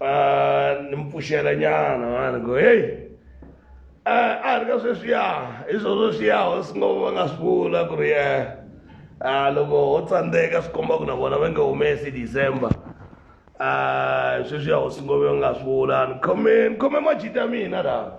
Ah, ni mi pfuxela nyana mani ku heyi eh, a ri ka sweswiya hi swo sweswiya hosi ngo va nga swi vula ku ri ye ah, loko ho tsandzeka swi komba ku na vona va nge humesi december ah, sweswiya hosi ngo va nga swi vula ni khome ni khome majita mina laha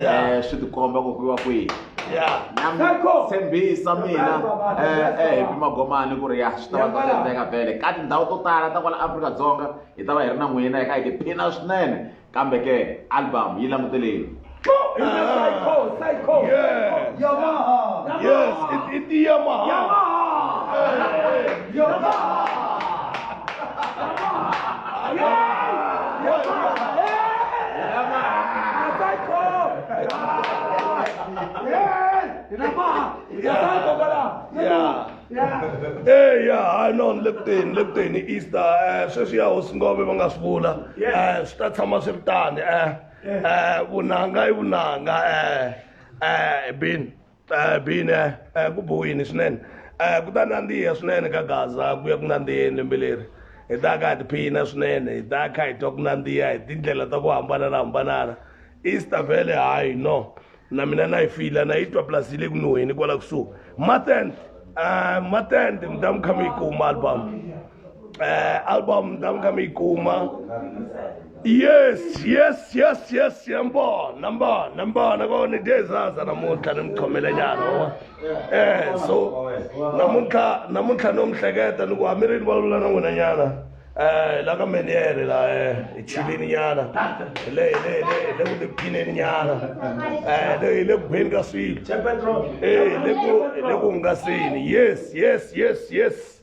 Yeah. eh, swi tikomba ku kuiwa kwihi Yeah. tshembisa mina eh, eh, hi magomani ku ri ya swi ta va ta endleka vhele ka tindhawu to tala ta kwala afrika-dzonga hi ta va hi ri na n'wina hi kha hi tiphina swinene kambe ke album yi languteleni Yes. Yes. It, it, Yamaha. Yamaha. eya hayi no ni le ku teni le ku teni easter um sweswi ya hosi ngove va nga swi vula um swi ta tshama swi ri tani um vunanga i vunanga um um bin Eh, bine eh, ku bohini swinene eh, ku ta nandziha swinene ka gaza ku ya ku nandziheni lembe leri hi ta ka hi tiphina swinene hi ta kha hi twa ku nandziha hi tindlela ta ku hambananahambanana easter vele hayi no na mina na yi fila na yi twa plus yi le ku nuheni kwala kusuhi matend matend mi ta mi kha mi yi kuma album eh, album ta ka mi yi kuma yes yes yes yes yambona mbona mbona kona dezaza namuntlha ni mi khomele nyana wa eh so namuntlha namuntlha no mi hleketa ni ku hambi ri ni vulavula na n'wina nyana eh la ka meniere la eh hi chilini nyana hi le hi le hi le hi le ku tiphineni nyana eh le hi le ku beni ka swilo eh hi le ku hi le ku hungaseni yes yes yes yes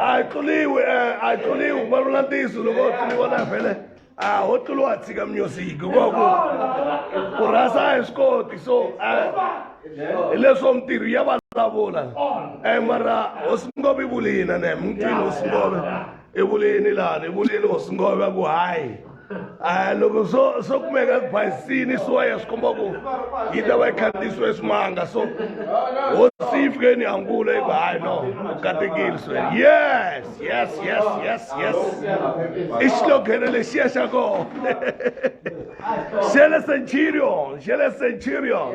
a tluliwi a tluliwi ku vulavula ntiyiso loko u tluliwa na vhele a ho tluliwa a tshika music hikuva ku ku rhasa a hi swi koti so hi leswo mintirho ya vulavula e mara hosi ngopfu yi vulina ne mutini hosi ngopfu evuleni laha evuleni hosi ngo va ku hayi a loko swo swo kumeka basini swo ya swi komba ku yi ta va yi khandziyisiwe swimanga so hosi yi fikeni hangula yi ku hayi no katekile swe yes yes yes yes yes i xiloghene lexiya xa kona xele centurion xele centurion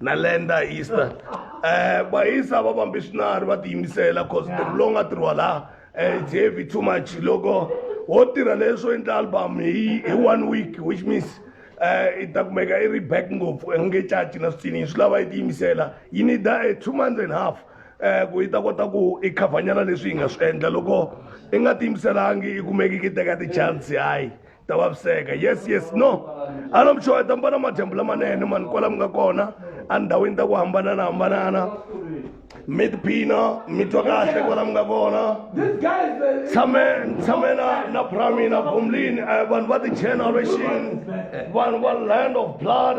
na lenda easter um vahisa va vambe swinari va tiyimisela cause ntirho lowu nga tirhiwa laha um it's heavy too much loko wo tirha leswo endla album hi hi one week which means um i ta kumeka i ri back ngopfu i nge caci na switsini swi lava yi tiyimisela yi need a eh, two months and half um ku yi ta kota ku i khavhanyana leswi yi nga swi endla loko i nga tiyimiselangi i kumeki ki teka ti-chance hayi ta vaviseka yes yes no a no mi xeweta mi vona madyambu lamanene mani kwala mi nga kona endhawini ta ku hambanana hambanana mi tiphina mi twa kahle kwala mi nga kona tshame tshame na na bramina bomlini um vanhu va ti-generation vanhu va land of blood